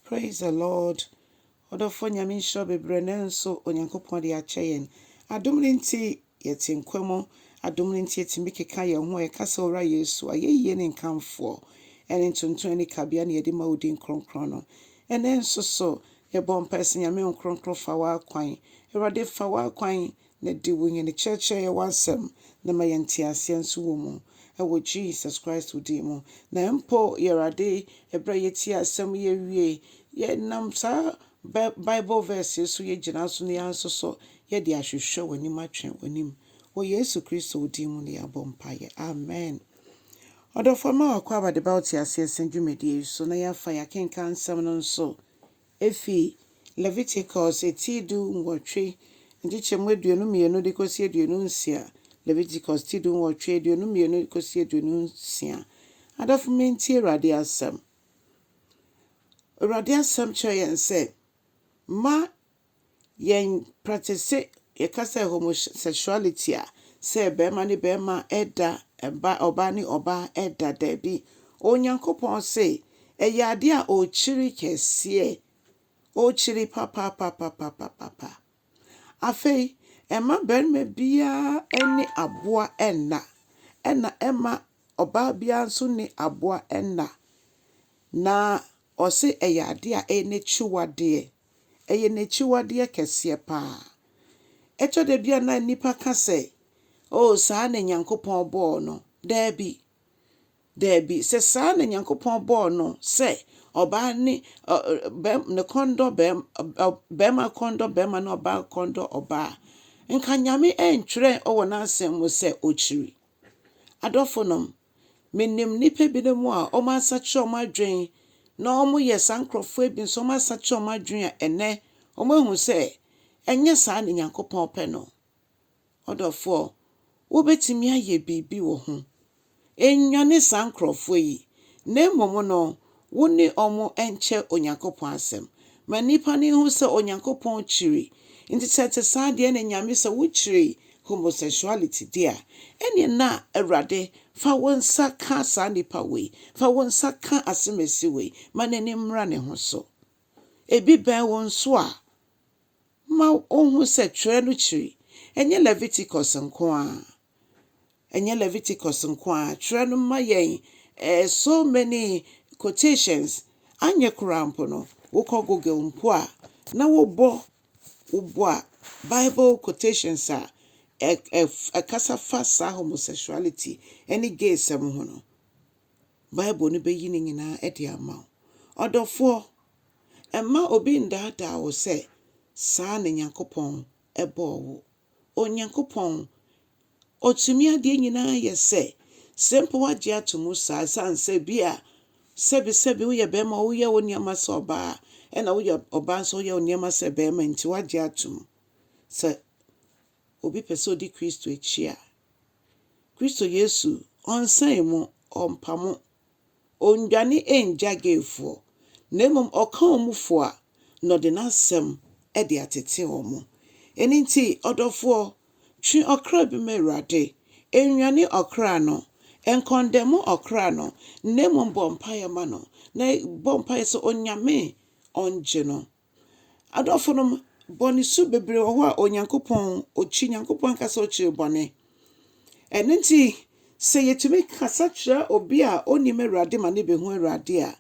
Praise the Lord ɔdɔfoɔ Nyame nhyira wo bebrɛ nanso Onyankopɔn de akyɛ yɛn adom no nti yɛte nkwa mu adom no nti yɛtumi keka yɛn ho a yɛka sɛ Owura Yesu ayɛyie ne nkamfoɔ ɛne ntonton ne kabea na yɛde ma wo din kronkron no ɛnɛ nso so yɛbɔ mpae sɛ Nyame Wo Nkronkron fa w'akwan Awurade fa w'akwan Na di wo nyɛne kyerɛkyerɛ yɛ w'asɛm na ma yɛn nteaseɛ nso wɔ mu wɔ Jesus Christ wo din mu. Na mpo Y'Awurade ɛberɛ a yɛtie asɛm yi awie yɛ nam saa bɛ Bible verse yi so yɛ gyina so na yɛn nso so yɛ de ahwehwɛ w'anim atwe w'anim wɔ Yesu Kristo wo din mu na yɛabɔ mpaeɛ. Amen. Ɔdɔfoɔ mma w'akwaaba de ba wo teaseɛ sɛn dwumadie yi so na yɛafa yɛakenkan nsɛm no nso. Efi Leviticus ti du nwɔtwe, nkyekyɛmu aduonu mmienu de kɔsi aduonu nsia, Leviticus ti du nwɔtwe, aduonu mmienu de kɔsi aduonu nsia. Adɔfo mentie Awurade asɛm. Awurade asɛm kyerɛ yɛn sɛ, mma Yɛn pratese yɛka sɛ homosexuality a sɛ barima ne barima ɛda ba ɔbaa ne ɔbaa ɛda daabi Onyankopɔn se ɛyɛ adeɛ a ɔkyiri kɛseɛ ɔkyiri papapapapapapa afei ɛma barima biara ɛne aboa ɛnna ɛna ɛma ɔbaa biara nso ne aboa ɛnna na ɔse ɛyɛ adeɛ a ɛyɛ n'akyiwadeɛ. ɛyɛ n'akyiwadeɛ kɛseɛ pa ara. Ɛtɔ da bi a na nnipa ka sɛ, Oo, saa na Onyankopɔn bɔɔ no. Daabi, daabi, sɛ saa na Onyankopɔn bɔɔ no sɛ ɔbaa ne ɔ, bɛm, ne kɔn dɔ bɛm, ɔ, bɛrima kɔn dɔ bɛrima na ɔbaa kɔn dɔ ɔbaa a, nka Nyame antwerɛ wɔ n'asɛm mu sɛ ɔkyiri. Adɔfonom, Menim nnipa binom a wɔasakyera wɔn adwene na wɔyɛ saa nkurɔfoɔ bi nso wɔasakyera wɔn adwene a ɛnnɛ wɔahu sɛ ɛnyɛ saa na Nyankopɔn pɛ no. Ɔdɔfoɔ, wobɛtumi ayɛ biribi wɔ ho. Nnwane saa nkurɔfoɔ yi, na mmom no Wo ne wɔn nkyɛ Onyankopɔn asɛm. Ma nnipa no nhu sɛ Onyankopɔn kyiri. Nti sɛ ɛte saa deɛ ɛne Nyame sɛ wo kyiri homosexuality deɛ a, ɛneɛ na Awurade fa wo nsa ka saa nnipa wei, fa wo nsa ka asemasi wei ma n'ani mmra ne ho so. Ebi bɛn wo nso a, Ma wonhu sɛ twerɛ no kyiri. Ɛnyɛ Leviticus nko ara. Ɛnyɛ Leviticus nko ara. Twerɛ no ma yɛn eh, so many quotations. Anyɛ koraa mpo no, wokɔ Google mpo a, na wobɔ, wobɔ a, Bible quotations a ɛ, ɛ, ɛkasa fa saa homosexuality ne gaysɛm ho no, Bible no bɛyi ne nyinaa de ama wo. Ɔdɔfoɔ, mma obi nnaadaa wo sɛ saa na Nyankopɔn bɔɔ wo. Onyankopɔn, Ɔtumi adeɛ nyinaa yɛ sɛ, sɛ mpo woagye ato mu saa ɛsiane sɛ bi a sɛbi sɛbi woyɛ bɛɛma a woyɛ wo nneɛma sɛ ɔbaa ɛna woyɛ ɔbaa nso woyɛ wo nneɛma sɛ bɛɛma nti woagye ato mu sɛ obi pɛ sɛ ɔdi Kristo akyi a, Kristo Yesu ɔnsɛe mo, ɔmpa mo, ɔnnwane nngya gayfoɔ, na mmom ɔka wɔn fo a, na ɔde n'asɛm de atete wɔn. Ɛno nti, ɔdɔfoɔ, twe ɔkra bi ma Awurade, nnwane ɔkra no, nkɔndɛmo ɔkra no, na mmom bɔ mpaeɛ ma no, na bɔ mpaeɛ sɛ Onyame ɔngye no. Adɔfo nom, bɔne su bebree wɔ hɔ a Onyankopɔn okyi. Nyankopɔn ankasa okyiri bɔne. Ɛno nti, sɛ yɛtumi kasa kyerɛ obi a onnim Awurade ma no behu Awurade a,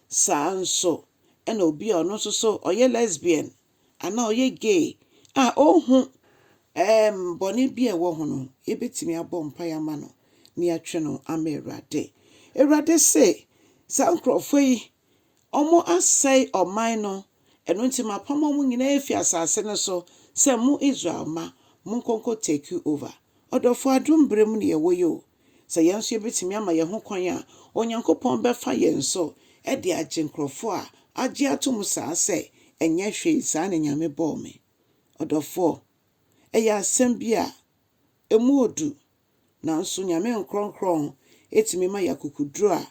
saa nso na obi a ɔno nso so ɔyɛ lesbian anaa ɔyɛ gay a onhu ɛɛm bɔne bi a ɛwɔ ho no, yɛbɛtumi abɔ mpae ama no na yɛatwe no ama Awurade. Awurade se, saa nkurɔfoɔ yi, Wɔasɛe ɔman no, ɛno nti mapam wɔn nyinaa afi asase no so sɛ mo Israel mma, monkɔ nkɔ take over. Ɔdɔfo, adom bere mu na yɛwɔ yi o. Sɛ yɛn nso yɛbɛtumi ama yɛn ho kwan a, Onyankopɔn bɛfa yɛn so de agye nkurɔfoɔ a agye atom saa sɛ, Ɛnyɛ hwee, saa na Nyame bɔɔ me. Ɔdɔfoɔ, ɛyɛ asɛm bi a ɛmu ɔdu. Nanso Nyame nkorɔnkorɔn tumi ma yɛ akokoduru a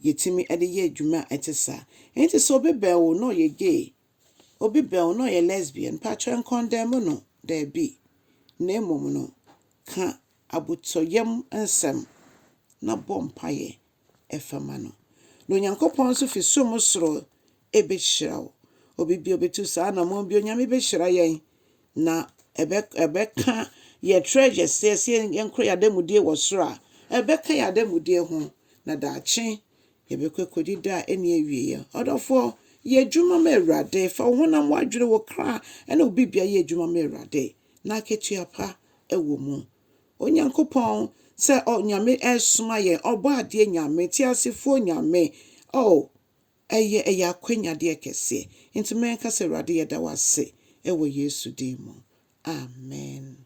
yɛtumi de yɛ adwuma a ɛte saa. Enti sɛ obi bɛn wo na ɔyɛ gay, obi bɛn wo na ɔyɛ lesbian, mpakyɛw nkɔndɛɛmo no, daabi, na mmom no ka abotɔyam nsɛm na bɔ mpaeɛ fa ma no, na Onyankopɔn nso fi som soro behyira wo. Obi bi a obetu saa anammɔn bi, Onyame behyira yɛn, na ɛbɛ ɛbɛka yɛn treasures, sɛ yɛsɛ yɛn kora yɛn adanmudie wɔ soro a, ɛbɛka yɛn adanmudie ho, na daakye yɛbɛkɔ akɔdi da a ɛnni awieɛ. Ɔdɔfoɔ, yɛ adwuma ma Awurade, fa wo honam, w'adwene, wo kra, ne wo bibia yɛ adwuma ma Awurade, na akatua pa wɔ mu. Onyankopɔn sɛ ɔ Nyame ɛresoma yɛn, Ɔbɔadeɛ Nyame, Teasefoɔ Nyame, oh, ɛyɛ, ɛyɛ akwanyadeɛ kɛseɛ. Enti mɛnka sɛ, Awurade yɛda wo ase wɔ Yesu din mu. Amen.